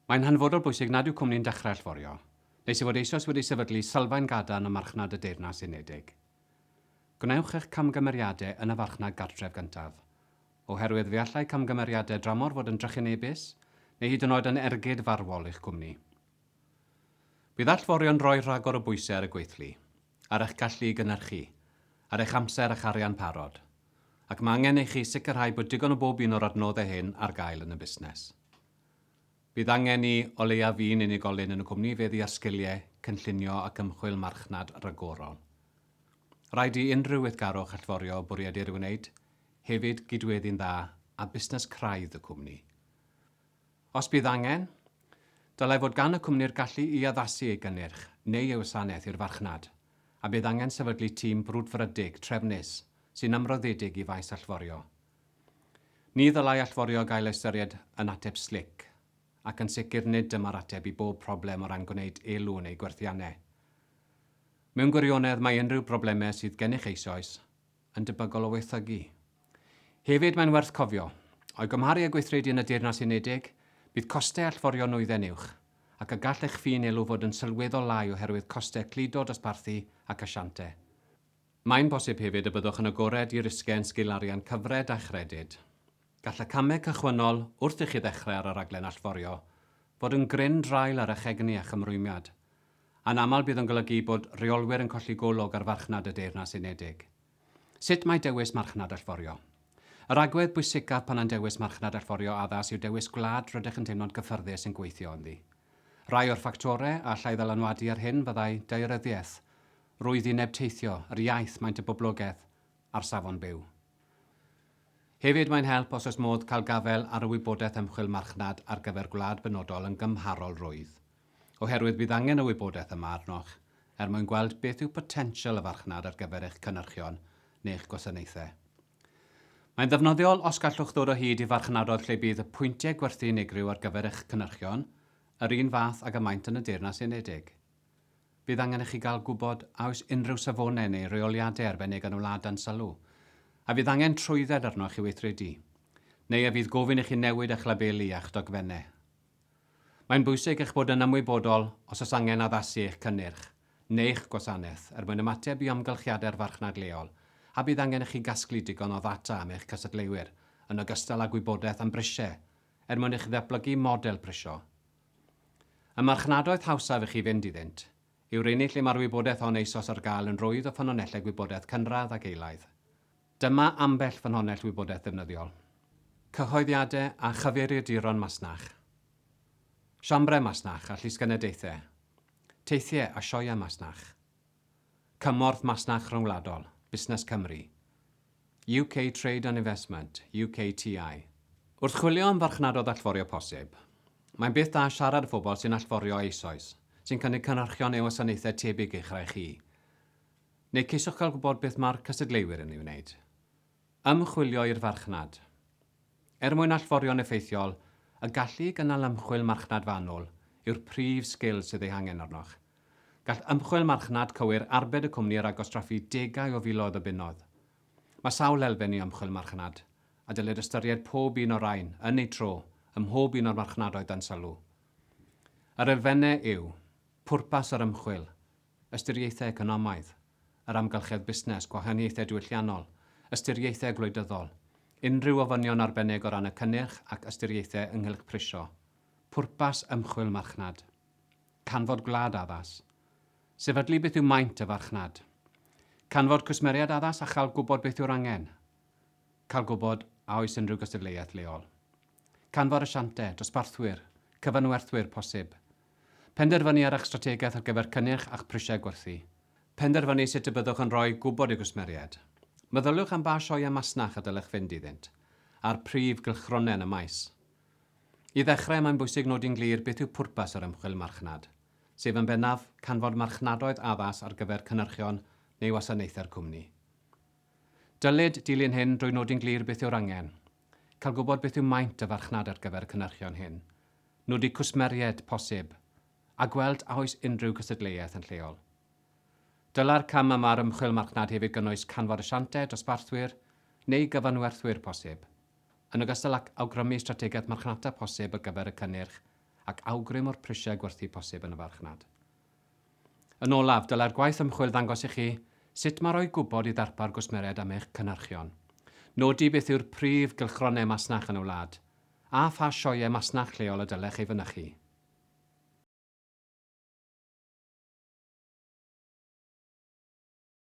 Mae'n hanfodol bwysig nad yw cwmni'n dechrau allforio, nes ei fod eisoes wedi sefydlu sylfaen gadarn ym marchnad y Deyrnas Unedig. Gwnewch eich camgymeriadau yn y farchnad gartref gyntaf, oherwydd fe allai camgymeriadau dramor fod yn drychinebus neu hyd yn oed yn ergyd farwol i'ch cwmni. Bydd allforio'n rhoi rhagor o bwysau ar y gweithlu. ar eich gallu i gynhyrchu, ar eich amser a'ch arian parod, ac mae angen i chi sicrhau bod digon o bob un o'r adnoddau hyn ar gael yn y busnes. Bydd angen i o leiaf un unigolyn yn y cwmni feddu â'r sgiliau cynllunio ac ymchwil marchnad ragorol. Rhaid i unrhyw weithgarwch allforio bwried ei wneud hefyd gydweddu'n dda â busnes craidd y cwmni. Os bydd angen, dylai fod gan y cwmni'r gallu i addasu ei gynnyrch neu ei wasanaeth i'r farchnad, a bydd angen sefydlu tîm brwdfrydig trefnus sy'n ymroddedig i faes allforio. Ni ddylai allforio gael ei ystyried yn ateb slic, ac yn sicr nid dyma'r ateb i bob problem o ran gwneud elw yn eu gwerthiannau. Mewn gwirionedd, mae unrhyw broblemau sydd gennych eisoes yn debygol o waethygu. Hefyd, mae'n werth cofio, o'i gymharu â gweithredu yn y Deyrnas Unedig, bydd costau allforio nwyddau'n uwch, ac y gall eich ffin elw fod yn sylweddol lai oherwydd costau cludo dosbarthu ac asiante. Mae'n bosib hefyd y byddwch yn agored i risgiau yn sgil arian cyfred a chredyd. Gall y camau cychwynnol wrth i chi ddechrau ar y rhaglen allforio fod yn gryn draul ar eich egni a'ch ymrwymiad. Anaml bydd yn golygu bod rheolwyr yn colli golwg ar farchnad y Deyrnas Unedig. Sut mae dewis marchnad allforio? Yr agwedd bwysicaf pan yn dewis marchnad allforio addas yw dewis gwlad rydych yn teimlo'n gyffyrddus yn gweithio ynddi. Rhai o'r ffactorau a allai ddylanwadu ar hyn fyddai daearyddiaeth, rwyddineb teithio, yr iaith, maint y boblogaeth, a'r safon byw. Hefyd, mae'n help os oes modd cael gafael ar y wybodaeth ymchwil marchnad ar gyfer gwlad benodol yn gymharol rwydd. oherwydd bydd angen y wybodaeth yma arnoch er mwyn gweld beth yw potensial y farchnad ar gyfer eich cynyrchion neu'ch gwasanaethau. Mae'n ddefnyddiol os gallwch ddod o hyd i farchnadoedd lle bydd y pwyntiau gwerthu unigryw ar gyfer eich cynyrchion yr un fath ag y maent yn y Deyrnas Unedig. Bydd angen i chi gael gwybod a oes unrhyw safonau neu reoliadau arbennig yn y wlad dan sylw, a fydd angen trwydded arnoch i'w weithredu, neu a fydd gofyn i chi newid eich labeli a'ch dogfennau. Mae'n bwysig eich bod yn ymwybodol os oes angen addasu eich cynnyrch neu'ch gwasanaeth er mwyn ymateb i amgylchiadau'r farchnad leol a bydd angen i chi gasglu digon o ddata am eich cystadleuwyr yn ogystal â gwybodaeth am brisiau er mwyn i chi ddatblygu model prisio. Y marchnadoedd hawsaf i chi fynd iddynt yw'r unig lle mae'r wybodaeth hon eisoes ar gael yn rwydd o ffynonellau gwybodaeth cynradd ac eilaidd. Dyma ambell ffynhonnell wybodaeth ddefnyddiol. Cyhoeddiadau a chyfeiriaduron masnach. Siambrau masnach a llysgenadaethau. Teithiau a sioeau masnach. Cymorth Masnach Rhyngwladol, Busnes Cymru. UK Trade and Investment, UKTI. Wrth chwilio am farchnadoedd allforio posib, mae'n beth da siarad â phobl sy'n allforio eisoes, sy'n cynnig cynhyrchion neu wasanaethau tebyg i'ch rai chi. Neu ceisiwch gael gwybod beth mae'r cystadleuwyr yn ei wneud. Ymchwilio i'r farchnad. Er mwyn allforio'n effeithiol, y gallu i gynnal ymchwil marchnad fanwl yw'r prif sgil sydd ei hangen arnoch. Gall ymchwil marchnad cywir arbed y cwmni ar agos draffu degau o filoedd o bunnoedd. Mae sawl elfen i ymchwil marchnad, a dylid ystyried pob un o'r rhain, yn eu tro, ym mhob un o'r marchnadoedd dan sylw. Yr elfennau yw, Pwrpas yr ymchwil, ystyriaethau economaidd, yr amgylchedd busnes, gwahaniaethau diwylliannol, ystyriaethau gwleidyddol, unrhyw ofynion arbennig o ran y cynnyrch ac ystyriaethau ynghylch prisio, pwrpas ymchwil marchnad, canfod gwlad addas, sefydlu beth yw maint y farchnad, canfod cwsmeriaid addas a chael gwybod beth yw'r angen, cael gwybod a oes unrhyw gystadleuaeth leol. Canfod asiantau, dosbarthwyr, cyfanwerthwyr posib. Penderfynu ar eich strategaeth ar gyfer cynnyrch a'ch prisiau gwerthu. Penderfynu sut y byddwch yn rhoi gwybod i gwsmeriaid. Meddyliwch am ba sioeau masnach y dylech fynd iddynt, a'r prif gylchgronau yn y maes. I ddechrau, mae'n bwysig nodi'n glir beth yw pwrpas yr ymchwil marchnad, sef yn bennaf, canfod marchnadoedd addas ar gyfer cynyrchion neu wasanaethau'r cwmni. Dylid dilyn hyn drwy nodi'n glir beth yw'r angen, Cael gwybod beth yw maint y farchnad ar gyfer y cynhyrchion hyn, nodi cwsmeriaid posib, a gweld a oes unrhyw gystadleuaeth yn lleol. Dylai'r cam yma ar ymchwil marchnad hefyd gynnwys canfod asiantau, dosbarthwyr neu gyfanwerthwyr posib, yn ogystal ag awgrymu strategaeth marchnata posib ar gyfer y cynnyrch ac awgrym o'r prisiau gwerthu posib yn y farchnad. Yn olaf, dylai'r gwaith ymchwil ddangos i chi sut mae rhoi gwybod i ddarpar gwsmeriaid am eich cynhyrchion, nodi beth yw'r prif gylchgronau masnach yn y wlad, a pha sioeau masnach lleol y dylech ei fynychu.